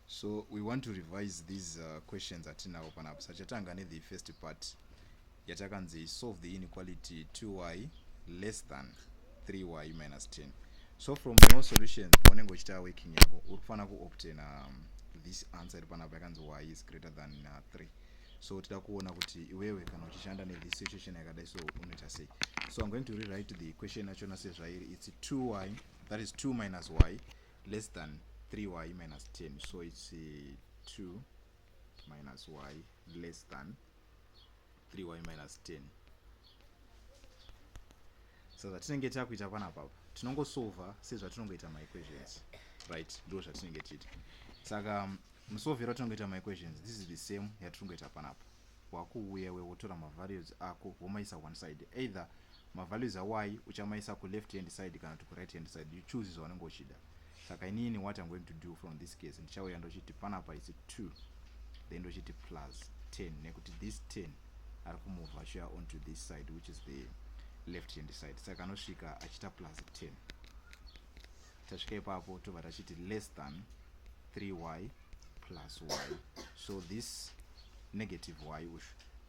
so we want to revise these uh, questions atinawo panapo sachatanga nethe first part yatakanzi solve the inequality 2y less than 3y minus 10 so from your solutions paunenge uchita working yako uri kufanira kuobtaina um, this answer iri panapa yakanzi y is greater than uh, 3 so tida kuona kuti iwewe kana uchishanda nethis situation yakadai so unoita sei so i'm going to rewrite the question yachona sezvairi its 2y that is 2 minus y less than 3y minus 10 so its 2 uh, minus y less than 3y minus 10 so zvatinenge takuita pana papa tinongosolva sezvatinongoita maequations right ndo zvatinenge tiita saka um, musovero tinongoita maequations this is the same yatiringoita panapa wakuuya iwe wotora mavalues ako womaisa one side either mavalues awai uchamaisa kuleft hand side kana kuti kuright hand side you choose zvaunenge uchida saka inini what im going to do from this case ndichauya ndochiti panapa isi two then ndochiti plus ten nekuti this ten ari kumuvha achiuya onto this side which is the left hand side saka anosvika achiita plus ten tasvika ipapo tobva tachiti less than 3y plus y so this negative y uyu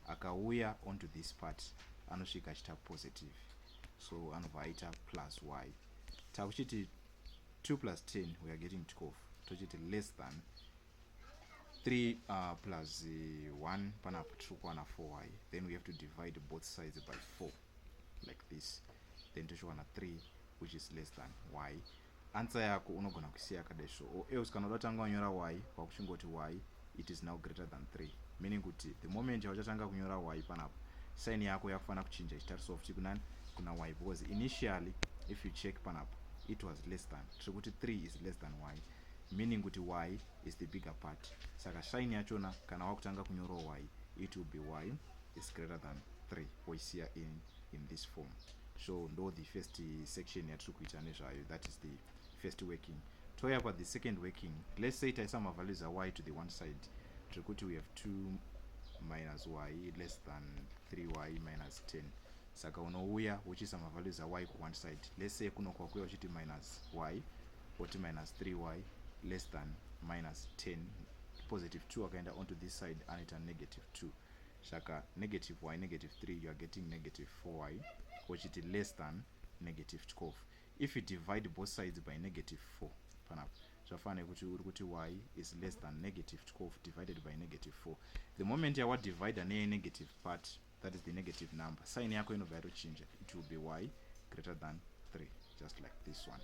akauya onto this part anosvika achiita positive so anobva aita plus y takuchiti 2 plus 10 we are getting 12 tochiti less than 3 uh, plus 1 uh, panapa tiri kuwana 4y then we have to divide both sides by 4 like this then tochiwana 3 which is less than y answer yako unogona kusiya yakadai so or else kana uda tanga wanyora y kwakuchingoti y it is now greater than 3 meaning kuti the moment yauchatanga kunyora y panapo sign yako yakufanira kuchinja ichitarisa ofti kunani kuna y because initially if you check panapo it was less than tiri kuti 3 is less than y meaning kuti y is the bigger part saka shine yachona kana wakutanga kunyoro y it will be y is greater than 3 oisiya in, in this form so ndo the first section yatiri kuita nezvayo that is the first working toya kwa the second working let's say taisa mavalues ay to the one side tiri kuti we have 2 minus y less than 3y minus 10 saka unouya uchiisa mavalues ay ku one side let's say kuno kwakuya uchiti minus y oti minus 3y less than minus 10 positive 2 akaenda onto this side anoita negative 2 saka negative y negative 3 youare getting negative 4y ochiti less than negative 12 if you divide both sides by negative 4 panapa zvafana nekuti uri kuti y is less than negative 12 divided by negative 4 the moment yawadivida neyenegative part that is the negative number sign yako inobva yatochinja it will be y greater than 3 just like this one